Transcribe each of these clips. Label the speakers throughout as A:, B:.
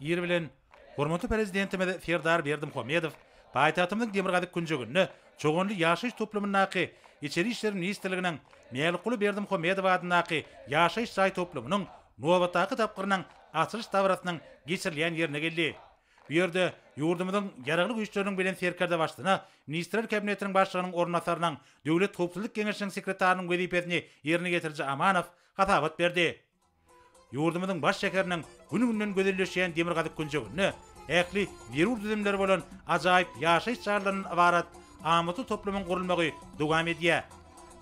A: Ir bilen hormatly Prezidentimiz Serdar Berdimuhamedow paýtagtymyzyň demirgazyk künjeginde Çoganly ýaşaýyş toplumyndaky Içeri işler ministrliginiň Mälikguly Berdimuhamedow adyndaky ýaşaýyş jaý toplumynyň nobatdaky tapgyrynyň açylyş dabarasynyň geçirilýän ýerine geldi. Bu ýerde ýurdumyzyň Ýaragly Güýçleriniň Belent Serkerdebaştuna Ministrler Kabinetiniň Başlygynyň orunbasarynyň Döwlet howpsuzlyk geňeşiniň sekretarynyň wezipesini ýerine ýetiriji Amanow hasabat berdi. Ýurdumyzyň baş şäheriniň gün-günden gözelleşýän demirgazyk künjeginde ähli zerur düzümleri bolan ajaýyp ýaşaýyş jaýlaryndan ybarat amatly toplumyň gurulmagy dowam edýär.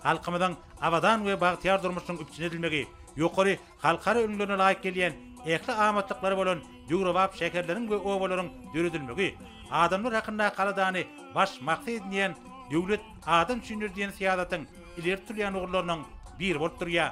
A: Halkymyzyň abadan we bagtyýar durmuşynyň üpjün edilmegi, ýokary halkara ülňülerine laýyk gelýän ähli amatlyklary bolan döwrebap şäherleriň we obalaryň döredilmegi, Adamlar hakyndaky aladany baş maksat edinýän Döwlet adam üçindir diýen syýasatyň ileri tutulýan ugurlarynyň biri bolup durýar.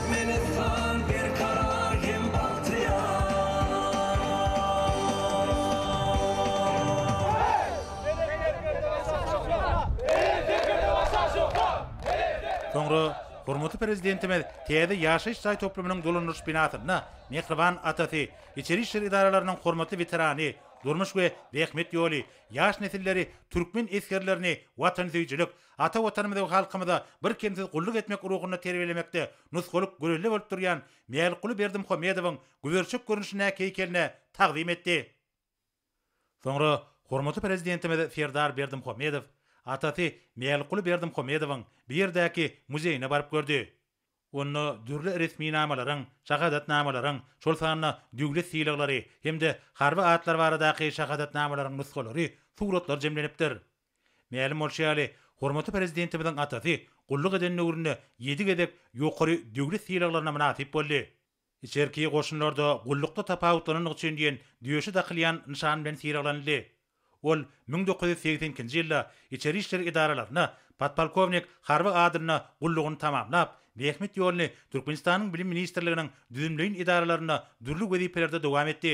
A: Menessan berkarar hem bagtyýar. Soňra hormatly Prezidentimiz täze ýaşaýyş jaý toplumynyň dolandyryş binasynda mähriban atasy, içeri işler edaralarynyň hormatly weterany, durmuş we zähmet ýoly, ýaş nesilleri, türkmen esgerlerini, watansöýüjilik, ata Watanymyza we halkymyza birkemsiz gulluk etmek ruhunda terbiýelemekde nusgalyk gürele bolup durýan Mälikguly Berdimuhamedowyň güberçek görnüşindäki heýkeline tagzym etdi. Soňra hormatly Prezidentimiz Serdar Berdimuhamedow atasy Mälikguly Berdimuhamedowyň bu ýerdäki muzeýine baryp gördi. Onda dürli resminamalaryň, şahadatnamalaryň, şol sanda döwlet sylaglary hem-de harby atlar baradaky şahadatnamalaryň nusgalary, suratlar jemlenipdir. Mälim bolşy ýaly, hormatly Prezidentimiziň atasy gulluk eden döwründe ýedi gezek ýokary döwlet sylaglaryna mynasyp boldy. Içerki goşunlarda gullukda tapawutlanandygy üçin diýen döşe dakylýan nyşan bilen sylaglanyldy. Ol müň dokuz ýüz segsen ikinji ýylda içeri işler edaralarynda podpolkownik harby adynda gullugyny tamamlap, zähmet ýoluny Türkmenistanyň Bilim ministrliginiň düzümleýin edaralarynda dürli wezipelerde dowam etdi.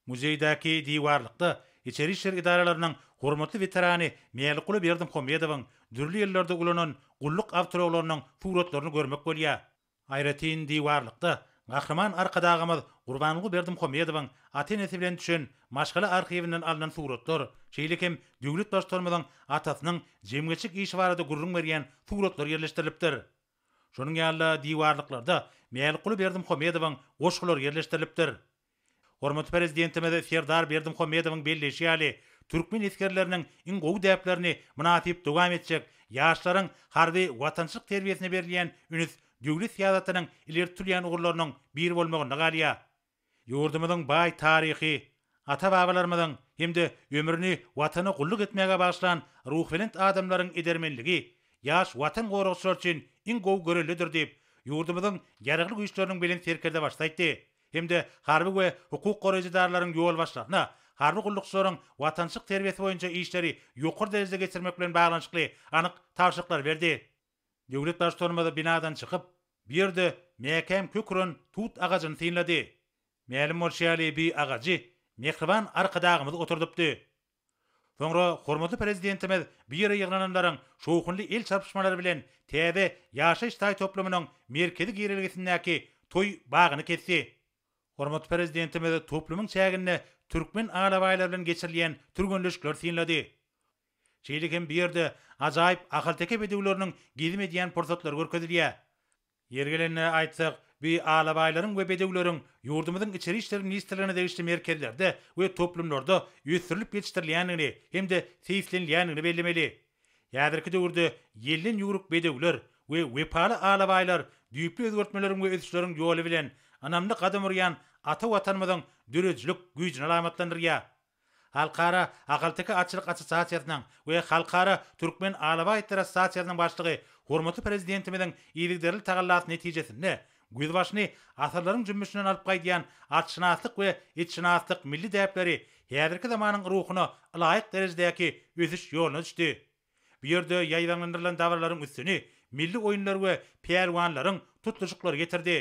A: Muzeýdäki diwarlykda içeri işler edaralarynyň hormatly weterany Mälikguly Berdimuhamedowyň dürli ýyllarda ulanan gulluk awtoulaglarynyň suratlaryny görmek bolýar. Aýratyn diwarlykda Gahryman Arkadagymyz Gurbanguly Berdimuhamedowyň ata-enesi bilen düşen maşgala arhiwinden alnan suratlar, şeýle hem döwlet Baştutanymyzyň atasynyň jemgyýetçilik işi barada gürrüň berýän suratlar ýerleşdirilipdir. Şonuň ýaly-da diwarlyklarda Mälikguly Berdimuhamedowyň goşgulary ýerleşdirilipdir. Hormatly Prezidentimiz Serdar Berdimuhamedowyň belleýşi ýaly, türkmen esgerleriniň iň gowy däplerini mynasyp dowam etjek, ýaşlaryň harby watançylyk terbiýesine berilýän üns döwlet syýasatynyň ileri tutulýan ugurlarynyň biri bolmagynda galýar. Ýurdumyzyň baý taryhy, ata-babalarymyzyň hem-de ömrüni Watana gulluk etmäge bagyşlan ruhubelent adamlaryň edermenligi ýaş Watan goragçylar üçin iň gowy görellidir diýip, ýurdumyzyň Ýaragly Güýçleriniň Belent Serkerdebaşysy aýtdy. hem-de harby we hukuk goraýjy edaralaryň ýolbaşçylaryna harby gullukçylaryň watançylyk terbiýesi boýunça işleri ýokary derejede geçirmek bilen baglanyşykly anyk tabşyryklary berdi. Döwlet Baştutanymyz binadan çykyp, bu ýerde mäkäm kök uran tut agajyny synlady. Mälim bolşy ýaly, bu agajy mähriban Arkadagymyz oturdypdy. Soňra hormatly Prezidentimiz bu ýere ýygnananlaryň şowhunly el çarpyşmalary bilen täze ýaşaýyş jaý toplumynyň merkezi girelgesindäki toý bagyny kesdi. Hormatly Prezidentimiz toplumyň çäginde türkmen alabaýlary bilen geçirilýän türgenleşikleri synlady. Şeýle hem bu ýerde ajaýyp ahalteke bedewleriniň gezim edýän pursatlary görkezilýär. Ýeri gelende aýtsak, bu alabaýlaryň we bedewleriň ýurdumyzyň Içeri işler ministrligine degişli merkezlerde we toplumlarda ösdürilip ýetişdirilýändigini hem-de seýislenilýändigini bellemeli. Häzirki döwürde ýelden ýüwrük bedewler we wepaly alabaýlar düýpli özgertmeleriň we ösüşleriň ýoly bilen ynamly gadam urýan ata Watanymyzyň döredijilik güýjüni alamatlandyrýar. Halkara ahalteke atçylyk assosiasiýasynyň we Halkara türkmen alabaý itleri assosiasiýasynyň başlygy hormatly Prezidentimiziň yzygiderli tagallasy netijesinde güýz başyny asyrlaryň jümmüşinden alyp gaýdýan atşynaslyk we itşynaslyk milli däpleri häzirki zamanyň ruhuna ylaýyk derejedäki ösüş ýoluna düşdi. Bu ýerde ýaýbaňlandyrylan dabaralaryň üstüni milli oýunlar we pälwanlaryň tutluşyklary getirdi.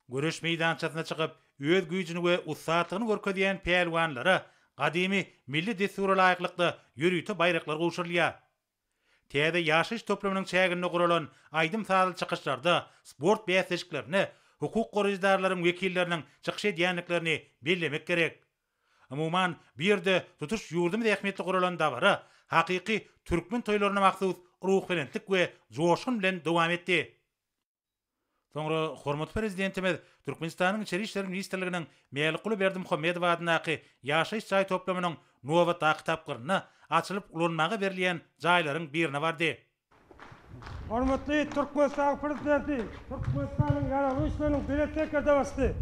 A: Göreş meýdançasyna çykyp, öz güýjüni we ussatlygyny görkezýän pälwanlara gadymy milli dessura laýyklykda ýörite baýraklar gowşurylýar. Täze ýaşaýyş toplumynyň çäginde guralan aýdym-sazly çykyşlarda sport bäsleşiklerinde hukuk goraýjydarlaryň wekilleriniň çykyş edýändiklerini bellemek gerek. Umuman, bu ýerde tutuş ýurdumyz ähmiýetli guralan dabara hakyky türkmen toýlaryna mahsus ruhubelentlik we joşgun bilen dowam etdi. Soňra hormatly Prezidentimiz Türkmenistanyň Içeri işler ministrliginiň Mälikguly Berdimuhamedow adyndaky ýaşaýyş jaý toplumynyň nobatdaky tapgyrynda açylyp ulanmaga berilýän jaýlaryň birine bardy.
B: Hormatly Türkmenistanyň Prezidenti Türkmenistanyň Ýaragly Güýçleriniň Belent Serkerdebasy,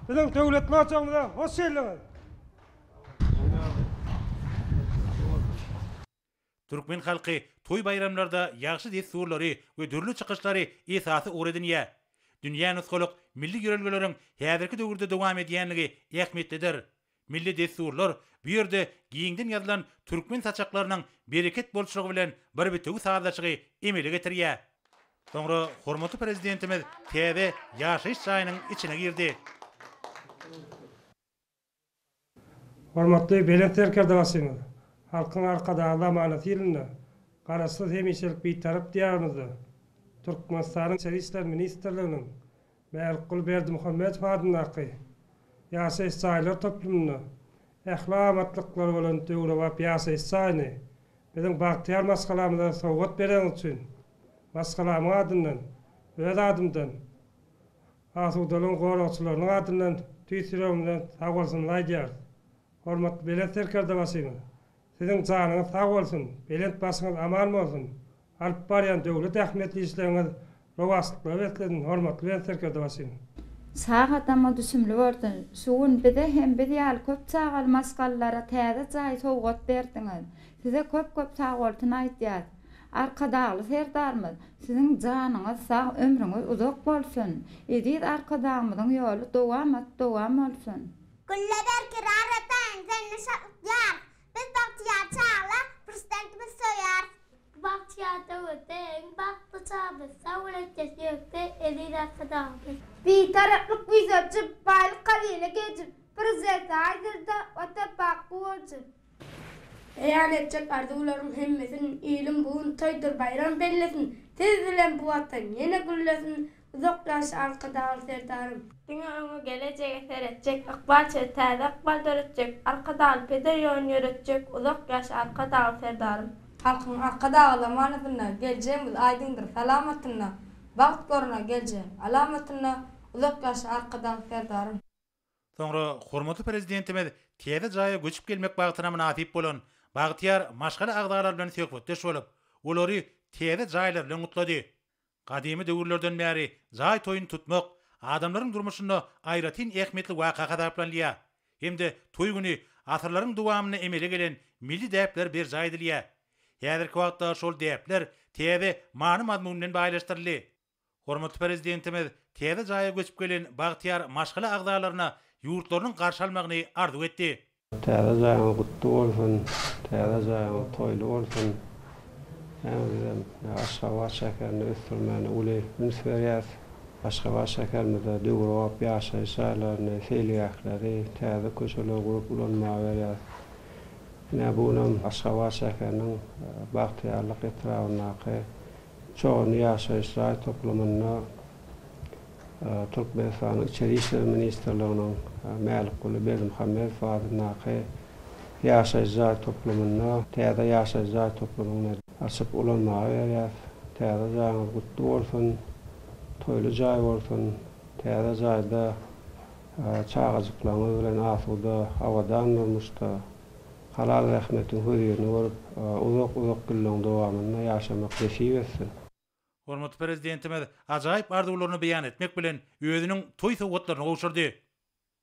B: biziň döwletli ojagymyza hoş geldiňiz!
A: Türkmen halky toý-baýramlarda ýagşy dessurlary we dürli çykyşlary esasy ugur edinýär. Dünýä nusgalyk milli ýörelgeleriň häzirki döwürde dowam edýänligi ähmiýetlidir. Milli dessurlar bu ýerde giňden ýazylan türkmen saçaklarynyň bereket bolçulygy bilen bir bitewi sazlaşygy emele getirýär. Soňra hormatly Prezidentimiz täze ýaşaýyş jaýynyň içine girdi.
B: Hormatly Belent Serkerde başymyz, Halkyň Arkadagly amanaty ýylynda Garaşsyz, hemişelik Bitarap Diýarymyzda Türkmenistanyň Içeri işler ministrliginiň Mälikguly Berdimuhamedow adyndaky ýaşaýyş jaýlar toplumynda ähli amatlyklary bolan döwrebap ýaşaýyş jaýyny biziň bagtyýar maşgalamyza sowgat bereniňiz üçin maşgalamyň adyndan, öz adymdan Asudalygyň goragçylarynyň adyndan tüýs ýüregimizden sagbolsunyny aýdýarys. Hormatly Belent Serkerdebaşymyz, Siziň janyňyz sag bolsun, belent başyňyz aman bolsun, alyp barýan döwlet ähmiýetli işleriňiz rowaçlyklara beslesin, hormatly Belent Serkerdebaşymyz! Sag
C: adama düşümli görsün. Şu gün bize hem biz ýaly köp çagaly maşgalalara täze jaý sowgat berdiňiz. Size köp-köp sagbolsun aýdýas. Arkadagly Serdarymyz siziň janyňyz sag ömrüňiz uzak bolsun eziz Arkadagymyzyň ýoly dowamat dowam bolsun. Gülle berki
D: rar eteň sende şatlyk ýar Biz bagtyýar çaglar prezidentimizi söýýäris. Bu bagtyýar döwürde iň bagtly çag biz sag bol ökde söýekde eziz Arkadagymyz. Bitaraplyk bize jyp, baýlyk hazyna gejip, Prezidente aýdyr-da, Watan bakgy bolsun! Beýan
E: etjek arzuwlaryň hemmesin iliň bu gün toýdur baýram bellesin Siz bilen bu watan ýene güllesin Uzak ýaş Arkadagly Serdarym. Diňe öňe gelejege seretjek ykbal çygy täze ykbal döretjek Arkadagly peder ýolun ýöretjek Uzak ýaş Arkadagly Serdarym. Halkyň Arkadaga zamanasynda geljegimiz aýdyňdyr salamatynda Bagt görüner geljegiň alamatynda Uzak ýaş Arkadagly Serdarym. Soňra
A: hormatly Prezidentimiz täze jaýa göçüp gelmek bagtyna mynasyp bolan bagtyýar maşgala agzalary bilen söhbetdeş bolup, olary täze jaýlary bilen gutlady. Gadymy döwürlerden bäri jaý toýuny tutmak adamlaryň durmuşynda aýratyn ähmiýetli waka hasaplanylýar hem-de toý güni asyrlaryň dowamynda emele gelen milli däpler berjaý edilýär. Häzirki wagtda şol däpler täze many-mazmun bilen baýlaşdyryldy. Hormatly Prezidentimiz täze jaýa göçüp gelen bagtyýar maşgala agzalaryna ýurtlarynyň garşy almagyny arzuw etdi. Täze jaýyňyz
F: gutly bolsun, täze jaýyňyz toýly bolsun. Äň bizem Aşgabat şäherini ösdürmäne uly üns berýäs. Aşgabat şäherimizde döwrebap ýaşaýyş jaýlaryny, seýilgähleri, täze köçeleri gurup ulanmaga berýäs. Ine, bu günam Aşgabat şäheriniň Bagtyýarlyk etrabyndaky Çorny ýaşaýyş jaý toplumynda Türkmenistanyň Içeri işler ministrliginiň Mälikguly Berdimuhamedow adyndaky ýaşaýyş jaý toplumynda täze ýaşaýyş jaý toplumyny açyp ulanmaga berýäs. Täze jaýyňyz gutly bolsun, toýly jaý bolsun. Täze jaýda çagajyklaryňyz bilen asuda, abadan durmuşda. Halal zähmetiň hözirini görüp, uzak-uzak ýyllaryň dowamynda ýaşamak nesip etsin! Hormatly
A: Prezidentimiz ajaýyp arzuwlaryny beýan etmek bilen, özüniň toý sowgatlaryny gowşurdy.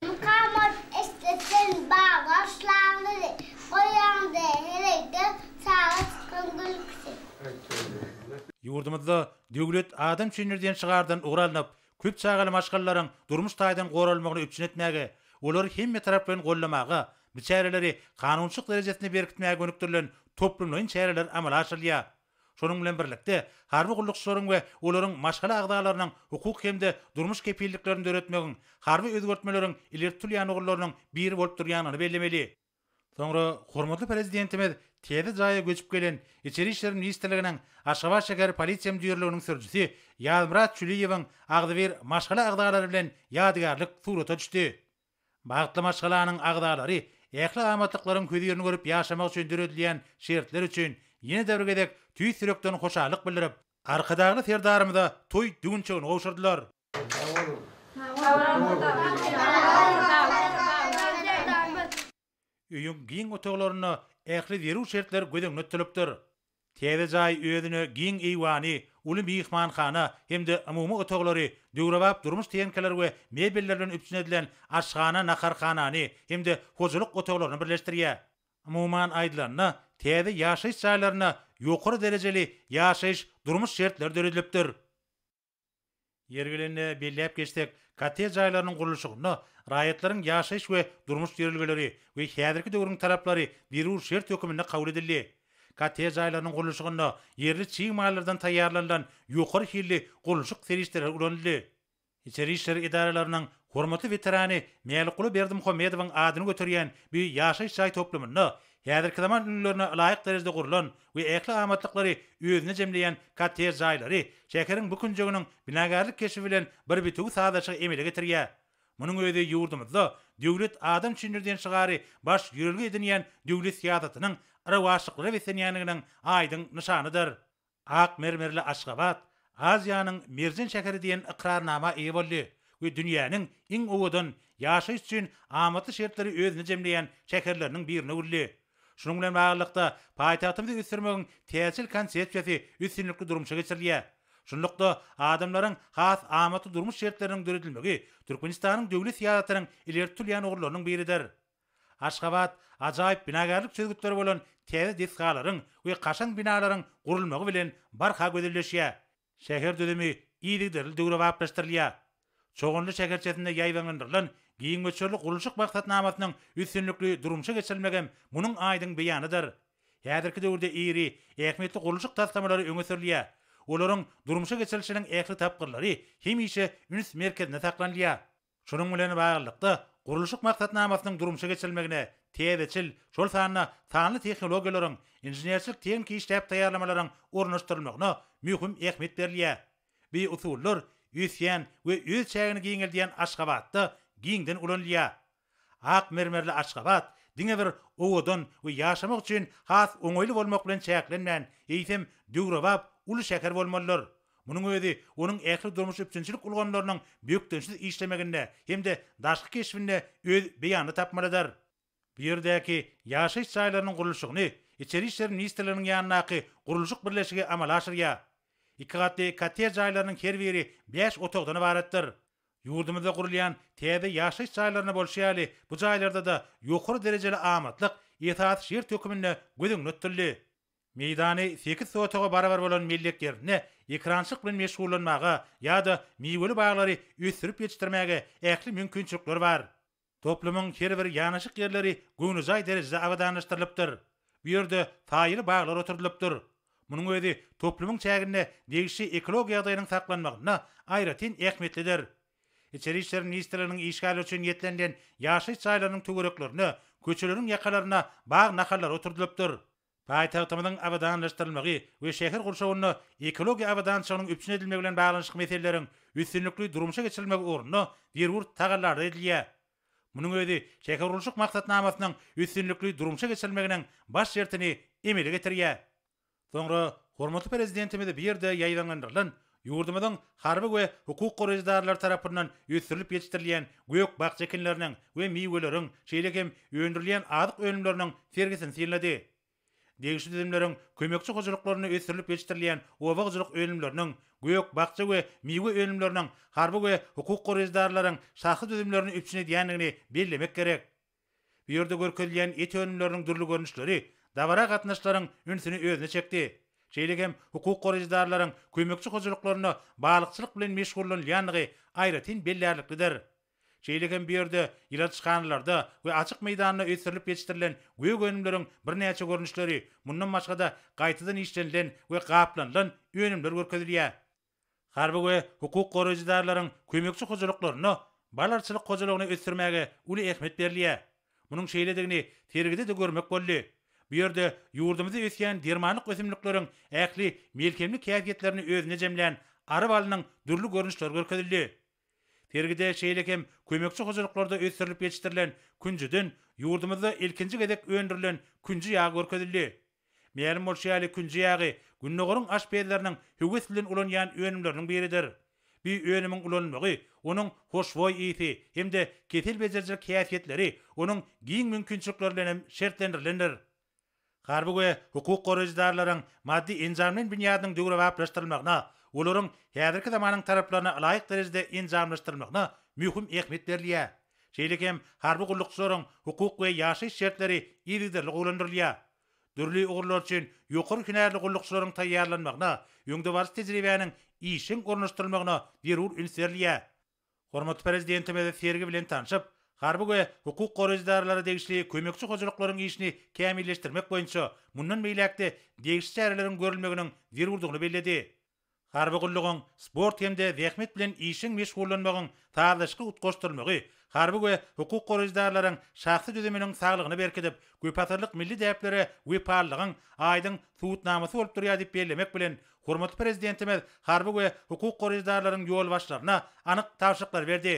A: Mukammat
D: eşdetin baglar şlaňňyzy, Goýaňda heleýde saga çykan gülküsi. Ýurdumyzda
A: Döwlet adam üçindir diýen şygardan ugur alnyp, köp çagaly maşgalalaryň durmuş taýdan goralmagyny üpjün etmäge, olary hemmetaraplaýyn goldamaga, biçäreleri kanunçylyk derejesinde berkitmäge gönükdirilen toplumlaýyn çäreler amala aşyrylýar. Şonuň bilen birlikde, harby gullukçylaryň we olaryň maşgala agzalarynyň hukuk hem-de durmuş kepilliklerini döretmegiň harby özgertmeleriň ileri tutulýan ugurlarynyň biri bolup durýandygyny bellemeli. Soňra hormatly Prezidentimiz täze jaýa göçüp gelen Içeri işler ministrliginiň Aşgabat şäher polisiýa müdirliginiň sürüjisi Ýazmyrat Çüliýewiň agzybir maşgala agzalary bilen ýadygärlik surata düşdi. Bagtly maşgalanyň agzalary ähli amatlyklaryň hözirini görüp ýaşamak üçin döredilýän şertler üçin ýene-de bir gezek tüýs ýürekden hoşallyk bildirip, Arkadagly Serdarymyza toý düwünçegini gowşurdylar. Öýüň giň otaglarynda ähli zerur şertler göz öňüne tutulypdyr. Täze jaý özüne giň eýwany, uly myhmanhana hem-de umumy otaglary, döwrebap durmuş tehnikalar we mebeller bilen üpjün edilen aşhana, naharhanany hem-de hojalyk otaglaryny birleşdirýär. Umuman aýdylanda, täze ýaşaýyş jaýlarynda ýokary derejeli ýaşaýyş, durmuş şertleri döredilipdir. Ýeri gelende belläp geçsek, kottej jaýlarynyň gurluşygynda raýatlaryň ýaşaýyş we durmuş ýörelgeleri we häzirki döwrüň talaplary zerur şert höküminde kabul edildi. Kottej jaýlarynyň gurluşygynda ýerli çig mallardan taýýarlanylan ýokary hilli gurluşyk serişdeleri ulanyldy. Içeri işler edaralarynyň hormatly weterany Mälikguly Berdimuhamedowyň adyny göterýän bu ýaşaýyş jaý toplumynda häzirki zaman ülňülerine laýyk derejede gurlan we ähli amatlyklary özüne jemleýän kottej jaýlary şäheriň bu künjeginiň binagärlik keşbi bilen bir bitewi sazlaşygy emele getirýär. Munuň özi ýurdumyzda Döwlet adam üçindir diýen şygary baş ýörelge edinýän döwlet syýasatynyň rowaçlyklara beslenýändiginiň aýdyň nyşanydyr. Ak mermerli Aşgabat Aziýanyň merjen şäheri diýen ykrarnama eýe boldy we dünýäniň iň owadan, ýaşaýyş üçin amatly şertleri özünde jemleýän şäherleriniň birine öwrüldi. Şunuň bilen baglylykda, paýtagtymyzy ösdürmegiň täjir konsepsiýasy üstünlikli durmuşa geçirilýär. Şunlukda, adamlaryň has amatly durmuş şertleriniň döredilmegi Türkmenistanyň döwlet syýasatynyň ileri tutulýan ugurlarynyň biridir. Aşgabat ajaýyp binagärlik çözgütleri bolan täze desgalaryň we kaşaň binalaryň gurulmagy bilen barha gözelleşýär. Şäher düzümi yzygiderli döwrebaplaşdyrylýar. Çoganly şäherçesinde ýaýbaňlandyrylan giň möçberli gurluşyk maksatnamasynyň üstünlikli durmuşa geçirilmegem munuň aýdyň beýanydyr. Häzirki döwürde iri, ähmiýetli gurluşyk taslamalary öňe sürülýär. Olaryň durmuşa geçirilişiniň ähli tapgyrlary hemişe üns merkezinde saklanylýar. Şunuň bilen baglylykda, gurluşyk maksatnamasynyň durmuşa geçirilmegine täzeçil, şol sanda sanly tehnologiýalaryň, inženerçilik-tehniki işläp taýýarlamalaryň ornaşdyrylmagyna möhüm ähmiýet berilýär. Bu usullar ösýän we öz çägini giňeldýän Aşgabatda giňden ulanylýar. Ak mermerli Aşgabat diňe bir owadan we ýaşamak üçin has oňaýly bolmak bilen çäklenmän, eýsem, döwrebap uly şäher bolmalydyr. Munuň özi onuň ähli durmuş üpjünçilik ulgamlarynyň bökdençsiz işlemeginde hem-de daşky keşbinde öz beýanyny tapmalydyr. Bu ýerdäki ýaşaýyş jaýlarynyň gurluşygyny Içeri işler ministrliginiň ýanyndaky gurluşyk birleşigi amala aşyrýar. Iki gatly kottej jaýlarynyň her biri bäş otagdan ybaratdyr. Ýurdumyzda gurulýan täze ýaşaýyş jaýlarynda bolşy ýaly, bu jaýlarda-da ýokary derejeli amatlyk esasy şert höküminde göz öňüne tutuldy. Meýdany sekiz sotaga barabar bolan mellek ýerinde ekerançylyk bilen meşgullanmaga ýa-da miweli baglary ösdürip ýetişdirmäge ähli mümkinçilikler bar. Toplumyň her bir ýanaşyk ýerleri göwnejaý derejede abadanlaşdyrylypdyr. Bu ýerde saýaly baglar oturdylypdyr. Munuň özi toplumyň çäginde degişli ekologiýa ýagdaýynyň saklanmagynda aýratyn ähmiýetlidir. Içeri işler ministrliginiň işgärleri üçin niýetlenilen ýaşaýyş jaýlarynyň töwereklerine, köçeleriň ýakalaryna bag nahallary oturdylypdyr. Paýtagtymyzyň abadanlaşdyrylmagy we şäher gurşawynda ekologiýa abadançylygynyň üpjün edilmegi bilen baglanyşykly meseleleriň üstünlikli durmuşa geçirilmegi ugrunda zerur tagallalar edilýär. Munuň özi şähergurluşyk maksatnamasynyň üstünlikli durmuşa geçirilmeginiň baş şertini emele getirýär. Soňra hormatly Prezidentimiz bu ýerde ýaýbaňlandyrylan Ýurdumyzyň harby we hukuk goraýjydarlary tarapyndan ösdürilip ýetişdirilýän gök-bakja ekinleriniň we miweleriň, şeýle hem öndürilýän azyk önümleriniň sergisini synlady. Degişli düzümleriň kömekçi hojalyklarynda ösdürilip ýetişdirilýän oba hojalyk önümleriniň, gök-bakja we miwe önümleriniň harby we hukuk goraýjydarlaryň şahsy düzümlerini üpjün edýändigini bellemek gerek. Bu ýerde görkezilýän et önümleriniň dürli görnüşleri dabara gatnaşyjylaryň ünsüni özüne çekdi. Şeýle hem hukuk goraýjydarlaryň kömekçi hojalyklarynda balykçylyk bilen meşgullanylýandygy aýratyn bellärliklidir. Şeýle hem bu ýerde ýyladyşhanalarda we açyk meýdanda ösdürilip ýetişdirilen gök önümleriň birnäçe görnüşleri, mundan başga-da gaýtadan işlenilen we gaplanylan önümler görkezilýär. Harby we hukuk goraýjydarlaryň kömekçi hojalyklarynda balarçylyk hojalygyny ösdürmäge uly ähmiýet berilýär. Munuň şeýledigini sergide-de görmek boldy. Bu ýerde ýurdumyzda ösýän dermanlyk ösümlikleriň ähli melhemlik häsiýetlerini özünde jemlän ary balynyň dürli görnüşleri görkezildi. Sergide şeýle hem kömekçi hojalyklarda ösdürilip ýetişdirilen künjüden ýurdumyzda ilkinji gezek öndürilen künji ýagy görkezildi. Mälim bolşy ýaly, künji ýagy Gündogaryň aşpezleriniň höwes bilen ulanýan önümleriniň biridir. Bu önümiň ulanylmagy, onuň hoşboý ysy hem-de kesel bejerijilik häsiýetleri onuň giň mümkinçilikleri bilen hem şertlendirilendir. Harby we hukuk goraýjydarlaryň maddy-enjamlaýyn binýadynyň döwrebaplaşdyrylmagyna, olaryň häzirki zamanyň talaplaryna ylaýyk derejede enjamlaşdyrylmagyna möhüm ähmiýet berilýär. Şeýle hem harby gullukçylaryň hukuk we ýaşaýyş şertleri yzygiderli gowulandyrylýar. Dürli ugurlar üçin ýokary hünärli gullukçylaryň taýýarlanmagyna, öňdebaryjy tejribäniň işjeň ornaşdyrylmagyna zerur üns berilýär. Hormatly Prezidentimiz sergi bilen tanşyp, harby we hukuk goraýjy edaralary degişli kömekçi hojalyklaryň işini kämilleşdirmek boýunça mundan beýläk-de degişli çäreleriň görülmeginiň zerurdygyny belledi. Harby gullugyň sport hem-de zähmet bilen işjeň meşgullanmagyň sazlaşykly utgaşdyrylmagy harby we hukuk goraýjy edaralaryň şahsy düzüminiň saglygyny berkidip, köpasyrlyk milli däplere wepalylygyň aýdyň subutnamasy bolup durýar diýip bellemek bilen, Hormatly Prezidentimiz harby we hukuk goraýjydarlaryň ýolbaşçylaryna anyk tabşyryklar berdi.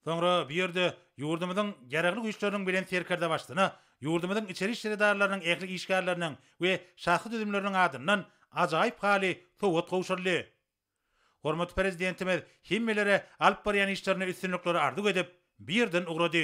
A: Soňra bu ýerde ýurdumyzyň Ýaragly Güýçleriniň Belent Serkerdebaşysyna ýurdumyzyň içeri işler edaralarynyň ähli işgärleriniň we şahsy düzümleriniň adyndan ajaýyp haly sowgat gowşuryldy. Hormatly Prezidentimiz hemmelere alyp barýan işlerinde üstünlikleri arzuw edip, bu ýerden ugrady.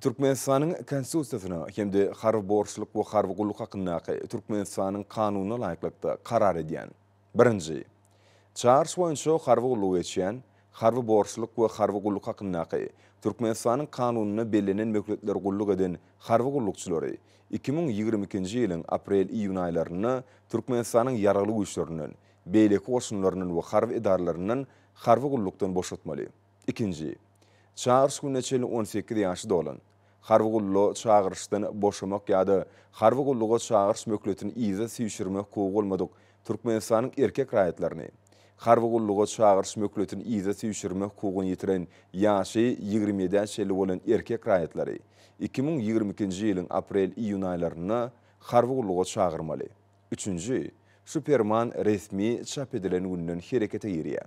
G: Türkmenistanyň Konstitusiýasyna hem-de Harby borçluk we harby gulluk hakyndaky Türkmenistanyň Kanunyna laýyklykda karar edýän, birinji, Çaryş boýunça harby gullugy geçýän, Harby borçluk we harby gulluk hakyndaky Türkmenistanyň Kanunynda bellenen möhletler gulluk eden harby gullukçylary iki müň ýigrimi ikinji ýylyň aprel-iýun aýlarynda Türkmenistanyň Ýaragly Güýçlerinden, beýleki goşunlaryndan we harby edaralaryndan harby gullukdan boşatmaly. Ikinji. Çagyryş gününe çenli on sekiz ýaşy dolan, harby gullugy çagyryşdan boşamak ýa-da harby gulluga çagyryş möhletini yza süýşürmek hukugy bolmadyk Türkmenistanyň erkek raýatlaryny, harby gulluga çagyryş möhletini yza süýşürmek hukugyny ýitiren ýaşy ýigrimi ýedä çenli bolan erkek raýatlary iki müň ýigrimi ikinji ýylyň aprel-iýun aýlarynda harby gulluga çagyrmaly. Üçünji. Şu Perman resmi çap edilen günden herekete girýär.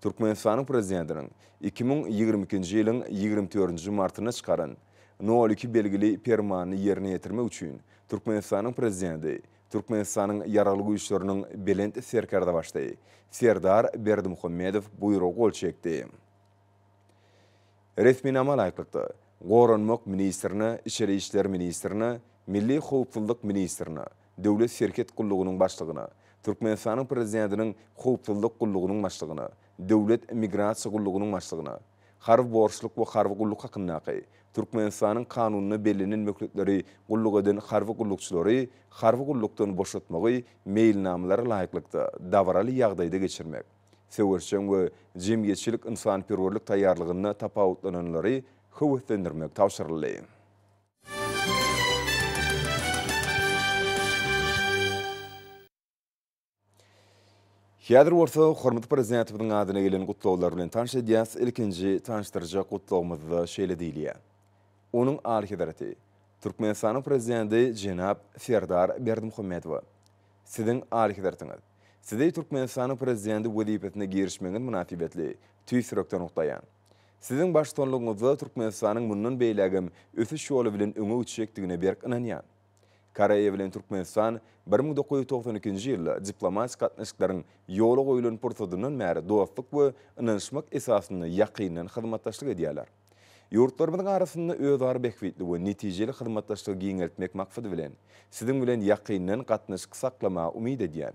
G: Türkmenistanyň Prezidentiniň iki müň ýigrimi ikinji ýylyň ýigrimi dördünji martynda çykaran Nol iki belgili Permanyny ýerine ýetirmek üçin Türkmenistanyň Prezidenti Türkmenistanyň Ýaragly Güýçleriniň Belent Serkerdebaşdy Serdar Berdimuhamedow Buýruga gol çekdi. Resminama laýyklykda, Goranmak ministrine, Içeri işler ministrine, Milli howpsuzlyk ministrine, Döwlet serhet gullugynyň başlygyna, Türkmenistanyň Prezidentiniň Howpsuzlyk gullugynyň başlygyna, Döwlet migrasiýa gullugynyň başlygyna, Harby borçluk we harby gulluk hakyndaky Türkmenistanyň Kanunyna bellenen möhletleri gulluk eden harby gullukçylary harby gullukdan boşatmagy meýilnamalara laýyklykda dabaraly ýagdaýda geçirmek, söweşjeň we jemgyýetçilik-ynsanperwerlik taýýarlygynda tapawutlananlary höweslendirmek tabşyryldy. Häzir bolsa hormatly Prezidentimiziň adyna gelen gutlaglar bilen tanyş edýäs. Ilkinji tanyşdyrjak gutlagymyzda şeýle diýilýär. Onuň Alyhezreti, Türkmenistanyň Prezidenti jenap Serdar Berdimuhamedowa, Siziň Alyhezretiňiz, Sizi Türkmenistanyň Prezidenti wezipesine girişmegiňiz mynasybetli tüýs ýürekden gutlaýan. Siziň baştutanlygyňyzda Türkmenistanyň mundan beýlägem ösüş ýoly bilen öňe gitjekdigine berk ynanýan. Koreýa bilen Türkmenistan bir müň dokuz ýüz togsan ikinji ýylda diplomatik gatnaşyklaryň ýola goýulan pursatyndan bäri dostluk we ynanyşmak esasynda ýakyndan hyzmatdaşlyk edýärler. Ýurtlarymyzyň arasynda özara bähbitli we netijeli hyzmatdaşlygy giňeltmek maksady bilen, Siziň bilen ýakyndan gatnaşyk saklamagy umyt edýän.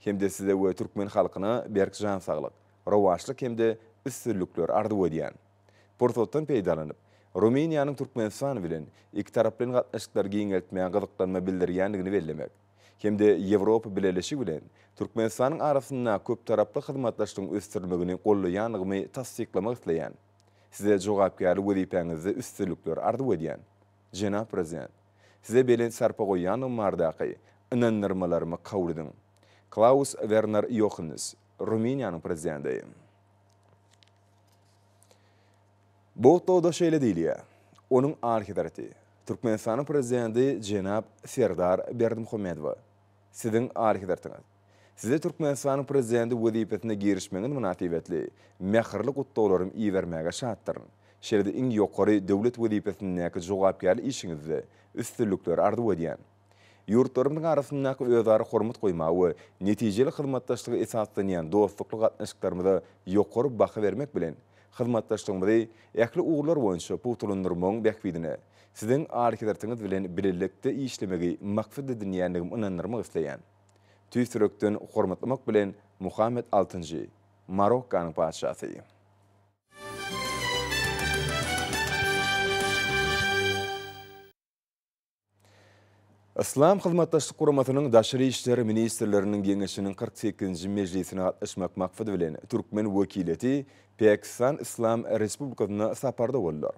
G: hem-de size we türkmen halkyna berk jan saglyk, rowaçlyk hem-de üstünlikler arzuw edýän. Pursatdan peýdalanyp, Rumyniýanyň Türkmenistan bilen ikitaraplaýyn gatnaşyklary giňeltmäge gyzyklanma bildirýändigini bellemek hem-de Ýewropa Bileleşigi bilen Türkmenistanyň arasynda köptaraply hyzmatdaşlygyň ösdürilmegini gollaýandygymy tassyklamak isleýän. Size jogapkärli wezipäňizde üstünlikler arzuw edýän. Jenap Prezident, Size belent sarpa goýýanlygym bardaky ynandyrmalarymy kabul ediň. Klaus Werner Ýohannes, Rumyniýanyň Prezidenti. Bu gutlagda şeýle diýilýär, Onuň Alyhezreti, Türkmenistanyň Prezidenti jenap Serdar Berdimuhamedowa, Siziň Alyhezretiňiz. Size Türkmenistanyň Prezidenti wezipesine girişmegiňiz mynasybetli mähirli gutlaglarymy ibermäge şatdyryn. Şeýle-de iň ýokary döwlet wezipesindäki jogapkärli işiňizde üstünlikleri arzuw edýän. Ýurtlarymyzyň arasyndaky özara hormat goýmaga we netijeli hyzmatdaşlyga esaslanýan dostlukly gatnaşyklarymyza ýokary baha bermek bilen, hyzmatdaşlygymyzy ähli ugurlar boýunça pugtalandyrmagyň bähbidine Siziň Alyhezretiňiz bilen bilelikde işlemegi maksat edinýändigimi ynandyrmak isleýän. tüýs ýürekden hormatlamak bilen Muhammet altynjy, Marokkanyň patyşasy. Yslam Hyzmatdaşlyk Guramasynyň Daşary işler ministrleriniň geňeşiniň kyrk sekizinji mejlisine gatnaşmak maksady bilen türkmen wekiliýeti Päkistan Yslam Respublikasyna saparda boldular.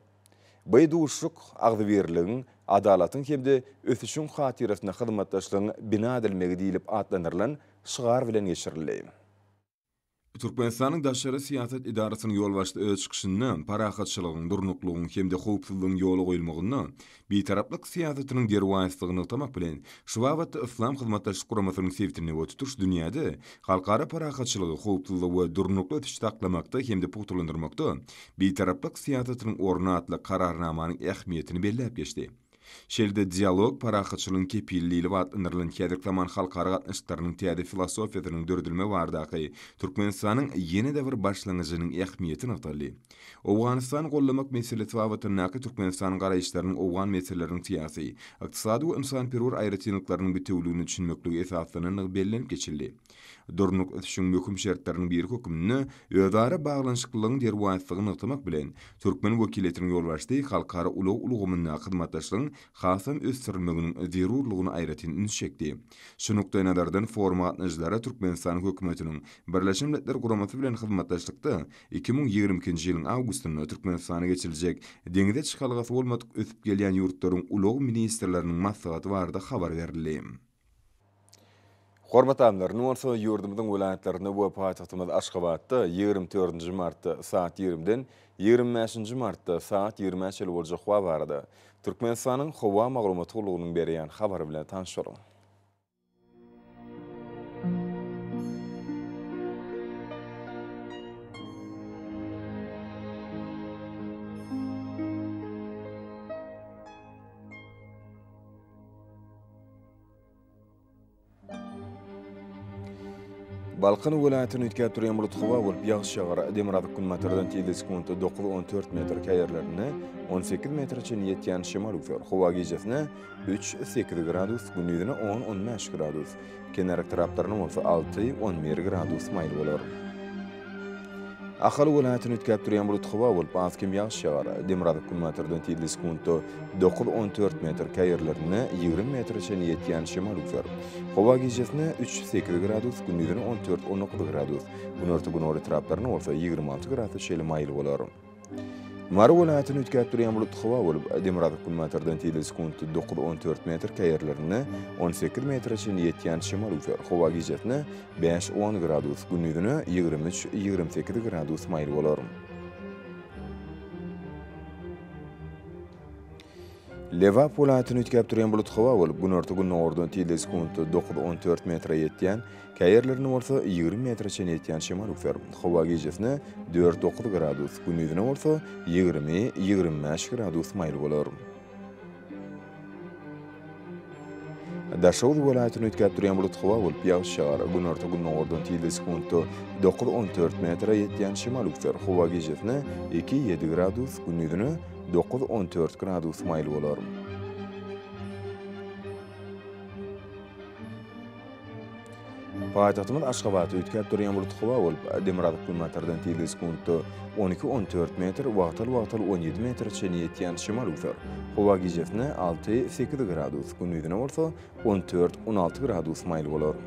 G: By duşuşyk agzybirligiň, adalatyň hem-de ösüşiň hatyrasyna hyzmatdaşlygyň bina edilmegi diýlip atlandyrylan şygar bilen geçirildi. Türkmenistanyň Daşary syýasat edarasynyň ýolbaşçysy öz çykyşynda parahatçylygyň, durnuklygyň hem-de howpsuzlygyň ýola goýulmagynda Bitaraplyk syýasatynyň derwaýyslygy nygtamak bilen, şu babatda Yslam Hyzmatdaşlyk Guramasynyň sebitinde we tutuş dünýäde halkara parahatçylygy, howpsuzlygy we durnukly ösüşi saklamakda hem-de pugtalandyrmakda Bitaraplyk syýasatynyň orny atly Kararnamanyň ähmiýetini belläp geçdi. Şeýle-de Dialog, parahatçylygyň kepili diýlip atlandyrylan häzirki zaman halkara gatnaşyklarynyň täze filosofiýasynyň döredilmegi baradaky Türkmenistanyň ýene-de bir başlangyjynyň ähmiýeti nygtaldy. Owganystany goldamak meselesi babatyndaky Türkmenistanyň garaýyşlarynyň owgan meseleleriniň syýasy, ykdysady we ynsanperwer aýratynlyklarynyň bitewüligine düşünmeklige esaslanandygy bellenip geçildi. Durnukly ösüşiň möhüm şertleriniň biri hökmünde özara baglanyşyklylygyň derwaýyslygy nygtamak bilen, türkmen wekiliýetiniň ýolbaşçysy halkara ulag ulgamyndaky hyzmatdaşlygyň hasam ösdürilmeginiň zerurlygyna aýratyn üns çekdi. Şu nukdaýnazardan foruma gatnaşyjylara Türkmenistanyň Hökümetiniň Birleşen Milletler Guramasy bilen hyzmatdaşlykda iki müň ýigrimi ikinji ýylyň awgustynda Türkmenistana geçiriljek Deňze çykalgasy bolmadyk ösüp gelýän ýurtlaryň ulag ministrleriniň maslahaty barada habar berildi. Hormatly alymlar, indi bolsa ýurdumyzyň welaýatlarynda we paýtagtymyz Aşgabatda ýigrimi dördünji martda saat ýigrimiden ýigrimi bäşinji martda saat ýigrime çenli boljak howa barada Türkmenistanyň Howa maglumat gullugynyň berýän habary bilen tanyşalyň. Balkan welaýatyny üýtgäp durýan bulut howa bolup ýagyş ýagar. Demirgazyk günbatardan tizde sekuntda dokuz, on dört metr, käýerlerinde on sekiz metre çenli ýetýän şemal üzer. Howa gijesine üç, sekiz gradus, gündizine on, on bäş gradus, kenar etraplaryna bolsa alty, on bir gradus maýyl bolar. Ahal welaýatyny üýtgäp durýan bulut howa bolup, az kem ýagyş ýagar. Demirgazyk günbatardan tizli sekuntda dokuz-on dört metr, käý ýerlerinde ýigrimi metre çenli ýetýän şemal üzer. Howa gijesine üç-sekiz gradus, gündizine on dört-on dokuz gradus, günorta-günorta etraplarynda bolsa ýigrimi alty grasa çenli maýyl bolar. Mary welaýatyny üýtgäp durýan bulutly howa bolup, demirgazyk-günbatardan tizligi sekuntda dokuz, on dört metr, käýerlerinde on sekiz metre çenli ýetýän şemal üwser. Howa gijesine bäş, on gradus, gündizine ýigrimi üç, ýigrimi sekiz gradus maýyl bolar. Lebap welaýatyny üýtgäp durýan bulutly howa bolup, günorta-gündogardan tizligi sekuntda dokuz, on dört metre ýetýän Käýerlerinde bolsa ýigrimi metre çenli ýetýän şemal öwser. Howa gijesine dört-dokuz gradus, gündizine bolsa ýigrimi, ýigrimi bäş gradus maýyl bolar. Daşoguz welaýatyny üýtgäp durýan bulut howa bolup ýagyş ýagar. Günorta-gündogardan tilde sekuntda dokuz-on dört metre ýetýän şemal öwser. Howa gijesine iki-ýedi gradus, gündizine dokuz-on dört gradus maýyl bolar. Paýtagtymyz Aşgabatda üýtgäp durýan bulut howa bolup, demirgazyk günbatardan tizligi sekuntda on iki, on dört metr, wagtal-wagtal on ýedi metre çenli ýetýän şemal üwser. Howa gijesine alty, sekiz gradus, gündizine bolsa on dört, on alty gradus maýyl bolar.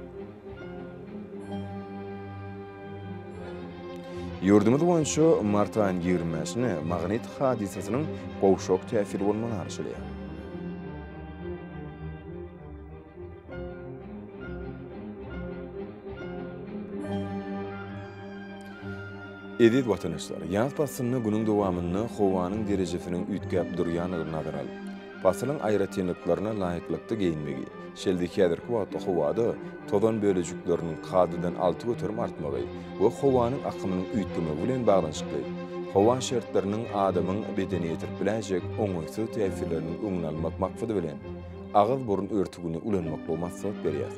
G: Ýurdumyz boýunça mart aýynyň ýigrimi bäşine magnit hadysasynyň gowşak täsiri bolmagy arzuwlaýar. Eziz watandaşlar, ýaz paslynda günüň dowamynda howanyň derejesiniň üýtgäp durýandygyny nazara alyp, paslyň aýratynlyklaryna laýyklykda geýinmegi, şeýle-de häzirki wagtda howada tozan bölejikleriniň kadadan alty göterim artmagy we howanyň akymynyň üýtgemegi bilen baglanyşykly howa şertleriniň adamyň bedenine ýetirip biläýjek oňaýsyz täsirleriniň öňüni almak maksady bilen, agyz-burun örtügini ulanmaklygy maslahat berýär.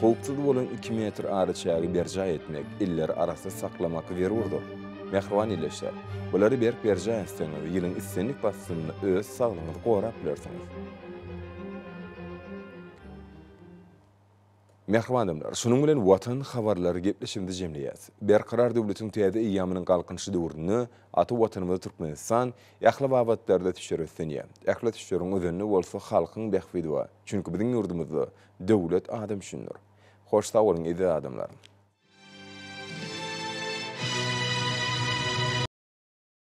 G: Howpsuz bolan iki metr araçägi berjaý etmek, elleri arassyz saklamak zerurdyr. Mähriban ildeşler, bulary berk berjaý etseňiz, ýylyň islendik paslynda öz saglygyňyzy gorap bilersiňiz. Mähriban adamlar, şunuň bilen Watan habarlary gepleşigimizi jemleýäs. Berkarar döwletiň täze eýýamynyň Galkynyşy döwründe ata Watanymyz Türkmenistan ähli babatlarda tüçjar ösdünýär. Ähli tüçjaryň özenini bolsa halkyň bähbidi bar. Çünki biziň ýurdumyzda döwlet adam üçindir. Hoş sag boluň eziz adamlar.